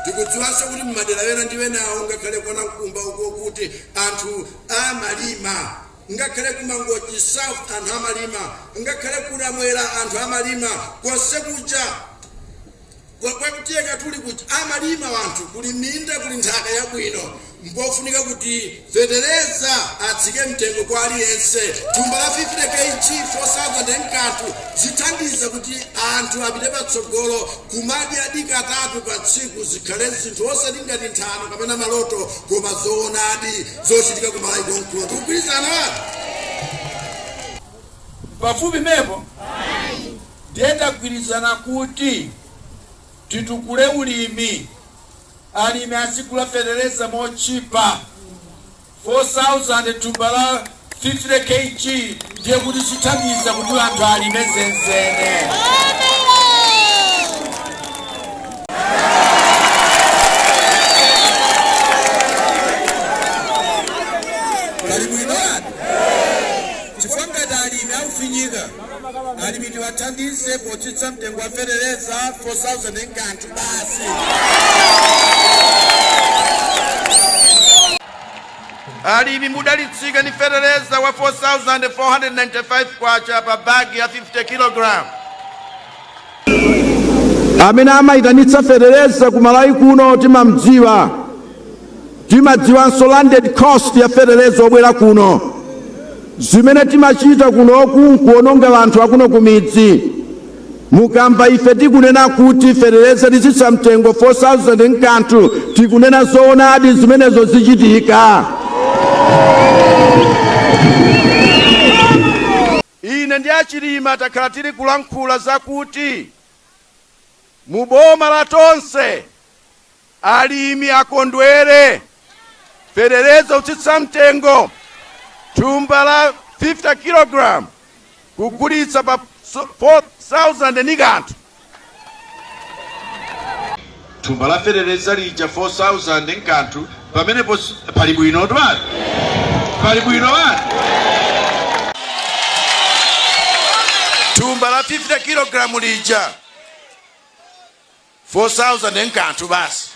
Tikudziwanso kuti m'madera ena ndi enawo ngakhale kwa Nankumba uko kuti anthu amalima ngakhale ku Mangochi South anthu amalima ngakhale ku Namwera anthu amalima konse kuja kwa kutiye Katuli kuja amalima anthu kuli minda kuli nthaka yabwino Mpofunika kuti fetereza atsike mtengo kwa aliyense. Thumba la 50 KG 4000 n'kanthu zithandiza kuti anthu apite patsogolo. Kumadyadi katatu pa tsiku zikhale zinthu osati ngati nthano kapena maloto koma zoonadi zochitika ku Malawi konkuno. Tikugwirizana? Pafupi mepo? Ndiye tagwirizana kuti. Titukule ulimi, alimi azigula fetereza motchipa, 4000 thumba la 50 KG ndiye kuti zithandiza kuti anthu alime zenizeni. Alimi tiwathandize potsitsa mtengo wa fetereza 4000 nkanthu basi. Alimi mudalitsike ndi fetereza wa 4495 kwacha pa bagi ya 50 kg. amene amayitanitsa fetereza ku malawi kuno timadziwanso landed cost ya fetereza obwera kuno zimene timachita kunoku nkuononga anthu akuno kumidzi mukamva ife tikunena kuti fetereza titsitsa mtengo 4000 nkanthu tikunena zoonadi zimenezo zichitika Ine ndi a Chilima takhala tili kulankhula za kuti mu boma la Tonse alimi akondwere, feteleza kutsitsa mtengo, thumba la 50 kilogram kugulitsa pa 4000 ndi kanthu. thumba la feteleza lija 4000 nkanthu pamenepo si- pali bwino twani pali bwino bani thumba la 50 kilogramu lija 4000 nkanthu basi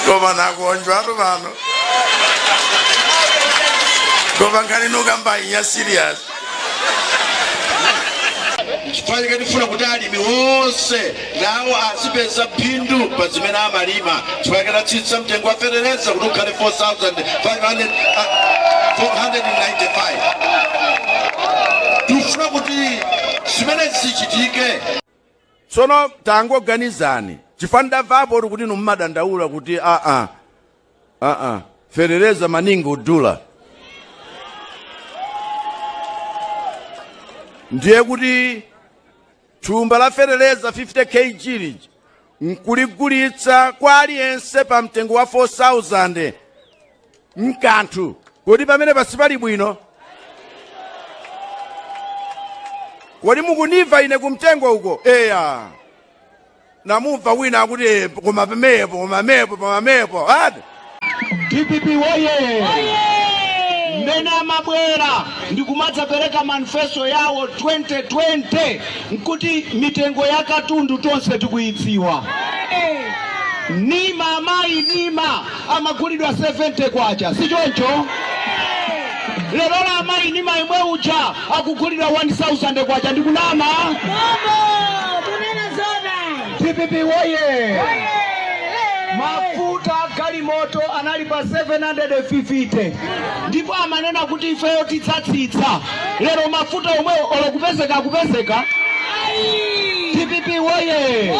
koma nakonjwa atu pano koma nkhani nokamba iya serious N'chifukwa chake tifuna kuti alimi onse nawo azipeza phindu pa zimene amalima. N'chifukwa chake tatsitsa mtengo wa fetereza kuti ukhale 4,500, ah, 495. Tifuna kuti zimenezi zichitike. tsono tangoganizani chifukwa ndamvapo kuti inu mumadandaula kuti aa aa fetereza maningi udula ndiye kuti thumba la fetereza 50 kg lija nkuligulitsa kwa aliyense pa mtengo wa 4000 mkanthu kodi pamene pansi pali bwino kodi mukunimva ine kumtengo uko eya namumva wina akuti "Eh, koma pomwepo koma pomwepo pomwepo ati dpp woye mmene amabwera ndi kumadzapereka manifesto yawo 2020 nkuti mitengo ya katundu tonse tikuyidziwa nima amayi nima amagulidwa 70 kwacha si choncho lero lamayi nima imwe uja akugulidwa K1000 ndi kunama? Dpp woye! Mafuta a galimoto anali pa 750 ndipo amanena kuti ifeyo tidzatsitsa. Lero mafuta omwe olo kupezeka akupezeka. Dpp woye!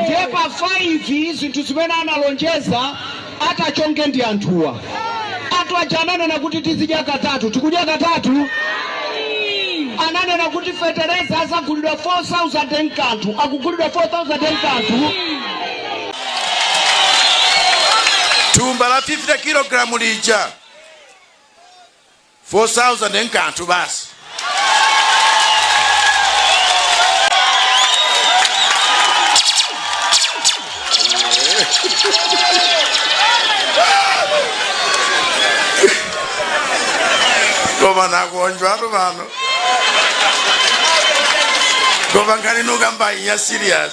Ndiye pa 5 zinthu zimene analonjeza a Tonse ndi anthuwa anthu aja ananena kuti tizidya katatu tikudya katatu ananena kuti fetereza azagulidwa 4000 mkanthu akugulidwa 4000 mkanthu thumba la 50 kilogalamu lija 4000 nkanthu basi koma nakonjwatu pano koma nkhani nukamba inya serious